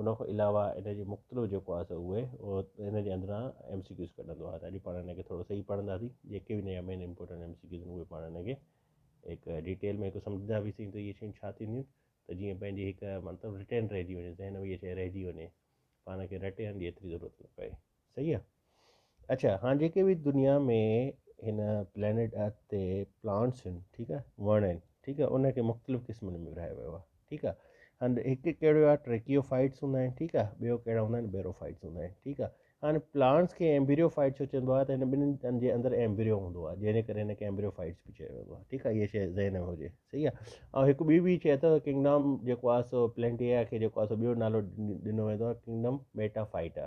ان کان علاوه ان جي مختلف جيڪو آهي سو اهي ان جي اندران ايم سي ڪيوز ڪڍندو آهي ته اڄ پاڻ ان کي ٿورو سهي پڙهنداسين جيڪي به ان جا main important M C Qs اهي پاڻ ان کي هڪ ڊيٽيل ۾ هڪ سمجهندا به سين ته اهي شيون ڇا ٿينديون ته جيئن پنهنجي هڪ مطلب رٽين رهجي وڃي ذهن ۾ ڇا رهجي وڃي پاڻ کي رٽي هڻ جي ايتري ضرورت نه پئي صحيح آ اڇا هاڻ جيڪي به دنيا ۾ هن پلينيٽ ارٿ تي پلانٽس آهن ٺيڪ آ وڻ آهن ٺيڪ آ ان کي مختلف قسمن ۾ ورهايو ويو آ ٺيڪ آ هاڻ هڪ ڪهڙو آ ٽريڪيو فائيٽس هوندا آهن ٺيڪ آ ٻيو ڪهڙا هوندا آهن بيرو فائيٽس هوندا آهن ٺيڪ آ هاڻ پلانٽس کي ايمبريو فائيٽ ڇو چوندو آ ته هن ٻنهن جي اندر ايمبريو هوندو آ جنهن جي ڪري هن کي ايمبريو فائيٽس به چيو ويندو آ ٺيڪ آ هيء شيء ذهن ۾ هجي صحيح آ ۽ هڪ ٻي به شيء اٿو ڪنگڊم جيڪو آ سو پلينٽيا کي جيڪو آ سو ٻيو نالو ڏنو ويندو آ ڪنگڊم ميٽا فائيٽا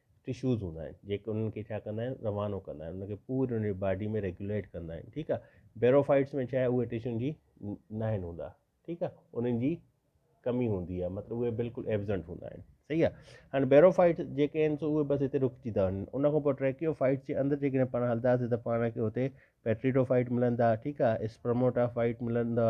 ٽشوز هوندا آهن جيڪي انهن کي ڇا ڪندا آهن روانو ڪندا آهن ان کي پوري ان جي باڊي ۾ ريگوليٽ ڪندا آهن ٺيڪ آهي بيروفائٽس ۾ ڇا اهي ٽشن جي ن آهن هوندا ٺيڪ آهي انهن جي کمي هوندي آهي مطلب اهي بلڪل ايبزنٽ هوندا آهن صحيح آهي هاڻي بيروفائٽس جيڪي آهن سو اهي بس هتي رڪجي ٿا وڃن ان کان پوء ٽريڪيوفائٽس جي اندر جيڪڏهن پاڻ هلنداسي ته پاڻ کي هتي پيٽريڊوفائٽ ملندا ٺيڪ آهي اسپرموٽافائٽ ملندا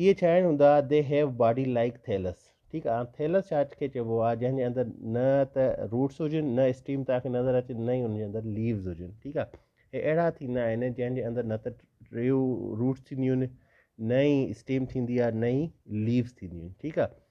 اهي ڇا آهن هوندا the have body like thallus ٺيڪ آهي ٿيلس ڇا کي چئبو آهي جنهن جي اندر نه ته روٽس هجن نه اسٽيم توهان کي نظر اچي نه ئي ان جي اندر ليوز هجن ٺيڪ آهي هي اهڙا ٿيندا آهن جنهن جي اندر نه ته ٽيون روٽس ٿينديون آهن نه ئي اسٽيم ٿيندي آهي نه ئي ليوز ٿينديون آهن ٺيڪ آهي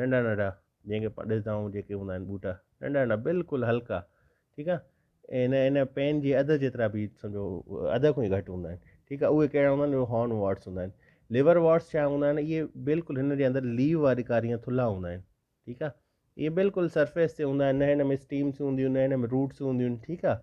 ننڍا ننڍا جنهن کي پاڻ ڏسدائون جيڪي هوندا آهن ٻوٽا ننڍا ننڍا بلڪل هلڪا ٺيڪ آ ان ان پين جي اڌ جيترا به سمجهو اڌ کان ئي گهٽ هوندا آهن ٺيڪ آ اهي ڪهڙا هوندا آهن هارن واٽس هوندا آهن ليور واٽس ڇا هوندا آهن اهي بلڪل هن جي اندر ليو واري ڪاري ائين ٿلها هوندا آهن ٺيڪ آ اهي بلڪل سرفيس تي هوندا آهن نه هن ۾ اسٽيمس هونديون نه هن ۾ روٽس هونديون ٺيڪ آ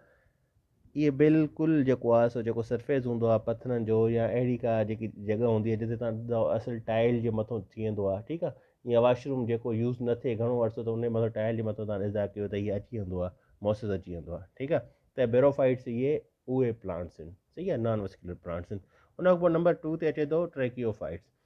اهي بلڪل جيڪو آهي سو جيڪو سرفيس هوندو آهي پٿرن جو يا اهڙي ڪا جيڪي جڳهه هوندي آهي جتي تان اصل ٽائل جي مٿو ٿي ويندو آهي ٺيڪ آهي يا واشروم جيڪو يوز نه ٿئي گهڻو عرصو ته ان جي مٿو ٽائل جي مٿو تان ازا ڪيو ته هي اچي ويندو آهي موسس اچي ويندو آهي ٺيڪ آهي ته بيروفائيٽس اهي اهي پلانٽس آهن صحيح آهي نان وسڪيولر پلانٽس آهن ان کان پوء نمبر ٽو تي اچي ٿو ٽريڪيوفائيٽس